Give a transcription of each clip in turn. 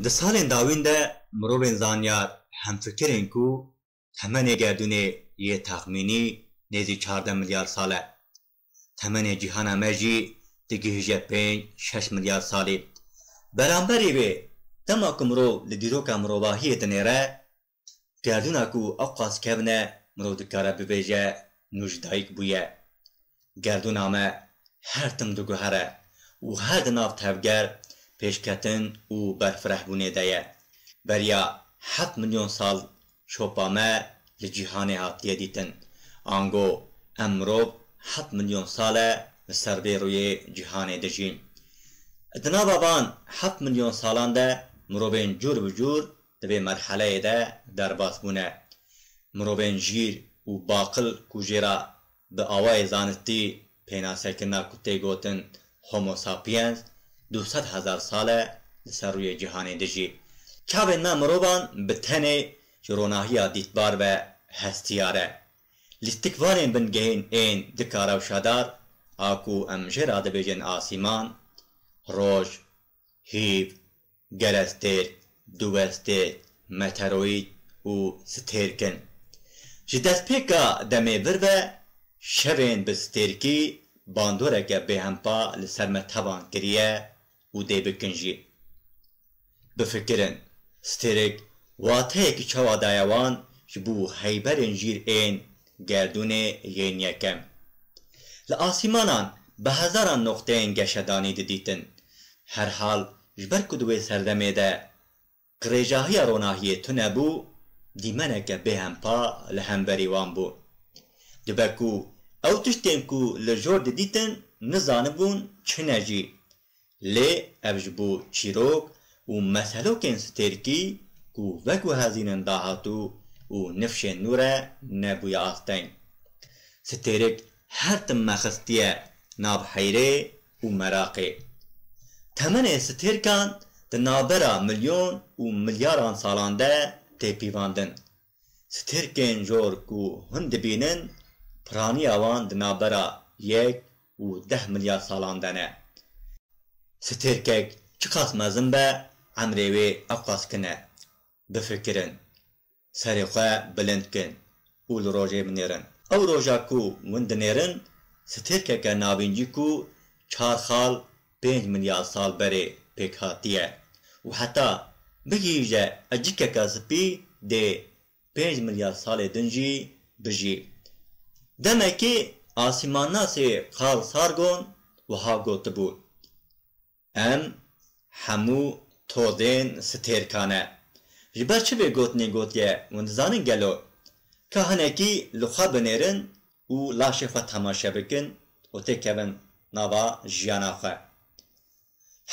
Di salên dawîn de mirovên zanyar hemfikir in ku temenê gerdûnê yê texmînî nêzî çardeh milyar sal e. Temenê cîhana me jî digihîje pênc şeş milyar salî. Beramberî vê, dema ku mirov li dîroka mirovahiyê dinêre, Gerdûna ku ew qas kevne mirov dikare bibêje nû ji dayik bûye. Gerdûna me her tim diguhere û her di nav tevger, pêşketin û berfirehbûnê de ye. Beriya heft milyon sal şopa me li cîhanê hatiye dîtin. Ango em mirov heft milyon sal e li ser vê rûyê cîhanê dijîn. Di nava van heft milyon salan de mirovên cûr bi cûr Di vê merheleyê de derbas bûne mirovên jîr û baqil ku jê re bi awayê zanistî pênasekirina ku tê gotin Homo sapiens du sed hezar sal e li ser rûyê cîhanê dijî. Çavên me mirovan bi tenê ji ronahiya dîtbar ve hestiyar e. Lîstik vanên bingehên ên dika rewşadar a ku em jê re dibêjin asîman, roj, hîv, Gerestêr, diwestêr, meteroîd û stêrk in. Ji destpêka demê vir ve şevên bi stêrkî bandoreke bêhempa li ser me tevan kiriye û dê bikin jî. Bifikirin, stêrk wateyekî çawa daye wan ji bo heyberên jîr ên Gerdûnê yên yekem. Li asîmanan bi hezaran noqteyên geşedanî didîtin. Herhal ji ber ku di wê serdemê de qirêjahiya ronahiyê tune bû, dîmeneke bêhempa li hemberî wan bû. Dibe ku ew tiştên ku li jor didîtin nizanibûn çi ne jî Lê ev ji bo çîrok û meselokên stêrkî ku veguhezîn in dahatû û nifşên nû re nebûye asteng. Stêrk her tim me xistiye nav heyrê û meraqê. Temenê stêrkan di navbera milyon û milyaran salan de tê pîvandin. Strkên jor ku hûn dibînin piraniya wan di navbera yek û deh milyar salan de ne. Strkek çiqas mezin be emrê wê ewqas kin e. Bifikirin, serê xwe bilind kin û li rojê binêrin. Ew roja ku hûn dinêrin strkeke navîncî ku çar xal pênc milyar sal berê pêk hatiye û heta bigihîje ecikeke spî dê pênc milyar salê din jî bijî. Demekî asîmannasê Carl Sargon wiha gotibû, Em hemû tozên stêrka ne. Ji ber çi vê gotinê gotiye we dizanin gelo? Ka hinekî li xwe binêrin û laşê xwe temaşe bikin û têkevin nava jiyana xwe.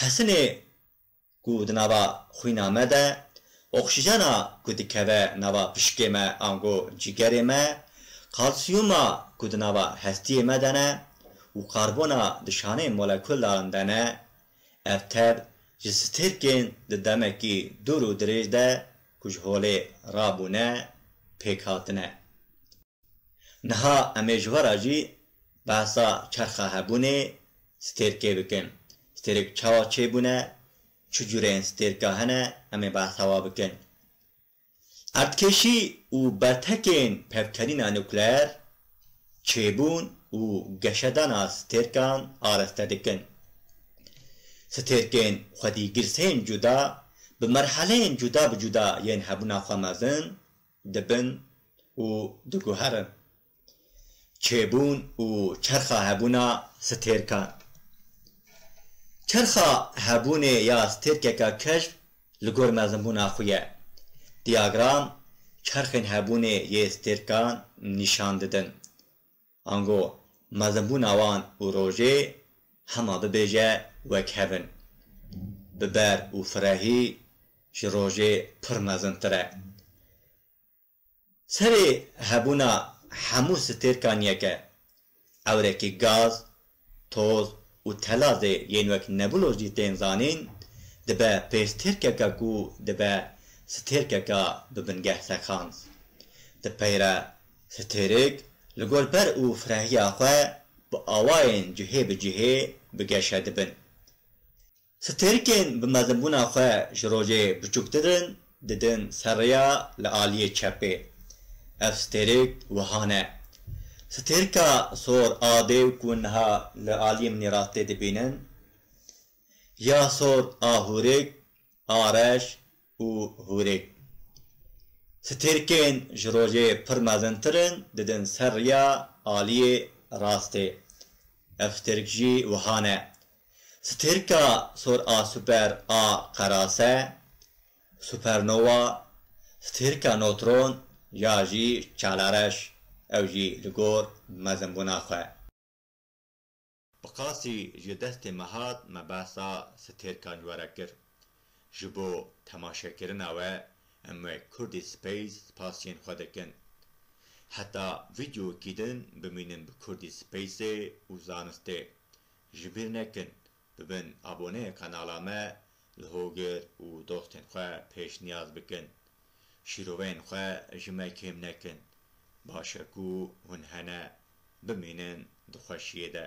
Hesinê ku di nava xwîna me de, oksîjena ku dikeve nava pişkê me ango cîgerê me, kalsiyuma ku di nava hestiyê me de ne û karbona di şanê molekûldaran de ne, ev tev ji stêrkên di demekî dûr û dirêj de ku ji holê rabûne pêk hatine. Niha em ê ji we re jî behsa çerxa hebûnê stêrkê bikin. Stêrk çawa çêbûne, çi cûreyên stêrka hene em ê behsa we bikin. Erdkêşî û bertekên pevkerîna nukleer çêbûn û geşedana stêrkan araste dikin. Stêrkên xwedîgirsên cuda bi merheleyên cuda bi cuda yên hebûna xwe mezin dibin û diguherin çêbûn û çerxa hebûna stêrkan. Çerxa hebûnê ya stêrkeka keşf li gor mezinbûna xwe ye. Diyagram çerxên hebûnê yê stêrkan nîşan didin. Ango mezinbûna wan û rojê hema bibêje wek hev in. Biber û firehî ji rojê pir mezintir e. Serê hebûna hemû stêrkan yek e. Ewrekî gaz Toz û telazê yên wek nebulo jî tên zanîn, dibe pêstêrkeke ku dibe stêrkeke bi bingeh seqand. Di peyre stêrk li gor ber û firehiya xwe bi awayên cihê bi cihê bi geşe dibin. Stêrkên bi mezibûna xwe ji rojê biçûktir in didin ser rêya li aliyê çepê. Ev stêrk wiha ne. Stêrka sor a dêw ku niha li aliyê min rastê dibînin ya sor a hûrik a reş û hûrik. Stêrkên ji rojê pir mezintir in didin ser rêya aliyê rastê. Ev stêrk jî wiha ne. Stêrka sor a super a qerase, supernova, stêrka notron ya jî çalareş, ew jî li gor mezinbûna xwe. Bi qasî ji destê me hat me behsa stêrkan ji we re kir. Ji bo temaşekirina we em wê Kurdî Space spasiyên xwe dikin. Heta vîdeoyekî din bimînin bi Kurdî Space ê û zanistê. Ji bîr nekin bibin aboneyê kanala me, li hogir û dostên xwe pêşniyaz bikin. Şîroveyên xwe ji me kêm nekin. Baş e ku hûn hene. Bimînin di xweşiyê de.